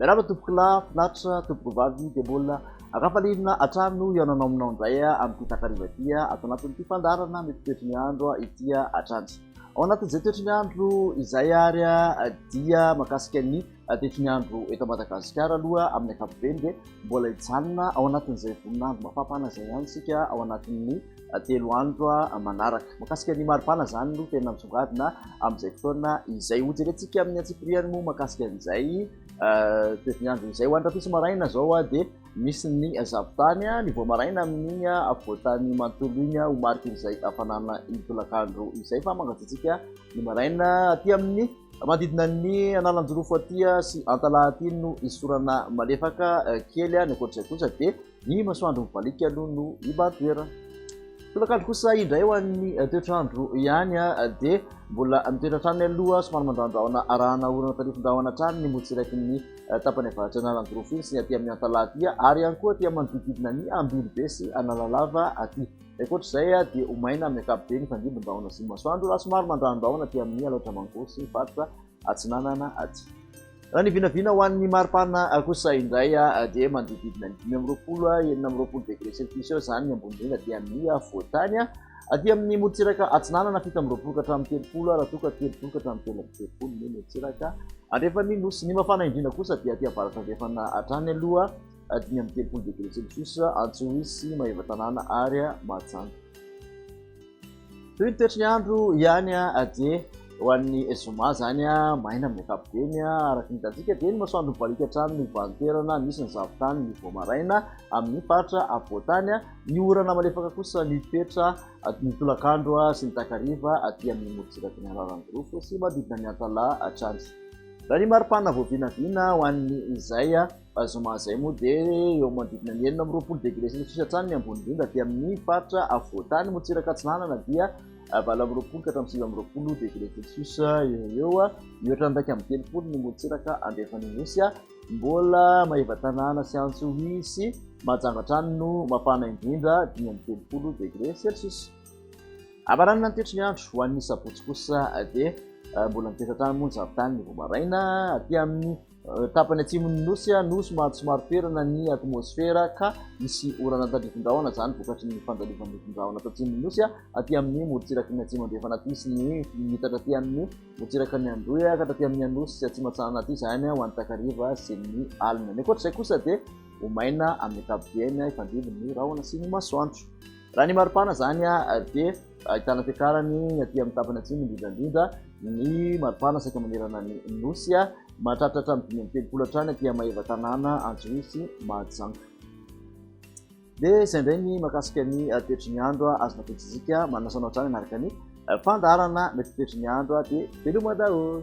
Miarahaba tompokolahy, finaritra, tompokovavy, dia mbola akafalinina hatrany hihaonanao aminao indray amin'ity takariva ity ato anatin'ity fandaharana ny toetry ny andro ity hatrany. Ao anatin'izay toetry ny andro izay ary dia makasika ny dia tsy miandro eto Madagasikara aloha amin'ny ankapobeny dia mbola hijanona ao anatin'izay voninandro mafampana izay ihany isika ao anatin'ny telo andro manaraka. Makasika ny maripana izany no tena misongadina amin'izay fotoana izay. Hojerentsika amin'ny antsipiriany moa makasika an'izay toetr'nyandro izay. Ho any rahampitso maraina izao dia misy ny zavotany, ny voa maraina amin'iny afovoantany manontolo iny ho mariky izay hafanana ny tolakandro izay fa mangatsiatsiaka ny maraina aty amin'ny Manodidina ny analanjirofo aty sy antalaha aty no hisy orana malefaka kely any, ankoatr'izay kosa dia ny masoandro mivaliaka aloha no hibahan-toerana. Tolakandro kosa indray ho an'ny toetr'andro ihany dia mbola mitoetra hatrany aloha somary mandrandraona arahana orana tarifindrahona hatrany ny motsiraiky ny tapany avaratra analanjirofo iny sy ny aty amin'ny antalaha aty ary ihany koa aty manodididina ny ambiribe sy analalava aty. Ankoatra izay dia ho maina amin'ny ankapobeny ny fandrimbin-drahona atsimon'ny masoandro raha somary mandran-drahona aty amin'ny alaotra mangoro sy faritra atsinanana aty. Raha ny vinavina ho an'ny maripana kosa indray dia manodidididina ny dimy amby roapolo, enina amby roapolo degré celcius eo izany ny ambony indrindra aty amin'ny afovoan-tany. Aty amin'ny morontsiraka atsinanana fito amby roapolo ka hatramin'ny telopolo raha toa ka telopolo ka hatramin'ny telo amby telopolo ny morontsiraka andrefan'ny nosy. Ny mafana indrindra kosa dia aty avaratra andrefana hatrany aloha. dimy amby telopolo degré celsius, Antsohihy, Maevatanàna ary Mahajanga. Toy ny toetry ny andro ihany dia ho an'ny zoma izany maina amin'ny ankapobeny. Araka ny hitantsika dia ny masoandro mibaliaka hatrany ny valintoerana misy ny zavon-tany ny vao maraina amin'ny faritra afovoan-tany. Ny orana malefaka kosa mitoetra ny tolakandro sy ny takariva aty amin'ny morotsiraky ny Alaoran'ny Jirofo sy manodidina ny Antalaha hatrany. Raha ny maripana vao vinavina ho an'ny izay. Zoma izay moa dia eo manodidina ny enina amby roapolo degré celsius hatrany ny ambony indrindra, aty amin' ny faritra afovoan-tany Motsiraka Atsinanana dia valo amby roapolo ka hatramin'ny sivy amby roapolo degré celsius eo ho eo, mihoatra ny iraika amby telopolo ny Motsiraka Andrefana Anosy, mbola Maevatanàna sy Antsohihy sy Mahajanga hatrany no mafana indrindra, dimy amby telopolo degré celsius. Hamaranana ny toetry ny andro ho an'ny sabotsy kosa dia mbola miteza hatrany moa ny zafin-tany vao maraina, aty amin' ny Tapany atsimon'ny nosy, nosy mahatsomaro toerana ny atmosfera ka misy orana an-tandrifin-drahona, izany vokatry ny fandalovan'ny rifin-drahona ato atsimon'ny nosy aty amin'ny morontsiraky ny atsimo andrefana aty sy ny mitatra aty amin'ny morontsiraka ny Androy ka taty amin'ny Anosy sy Atsimo Atsahana aty izany ho any takariva sy ny alina. Ny ankoatra izay kosa dia ho maina amin'ny ankapobeny hifandimby ny rahona sy ny masoandro. Raha ny maripana izany dia Ahitana fiakarany ny aty amin'ny tapany atsimo indrindra indrindra ny maripana saika manerana ny Nosy, mahatratra hatramin'ny dimy amby telopolo hatrany aty amin'ny maha-eva tanàna Antsohihy sy Mahajanga. Dia izay indray ny mahakasika ny toetry ny andro azonao fihetsizika, manasa anao hatrany hanaraka ny fandaharana mety ho toetry ny andro dia veloma daholo.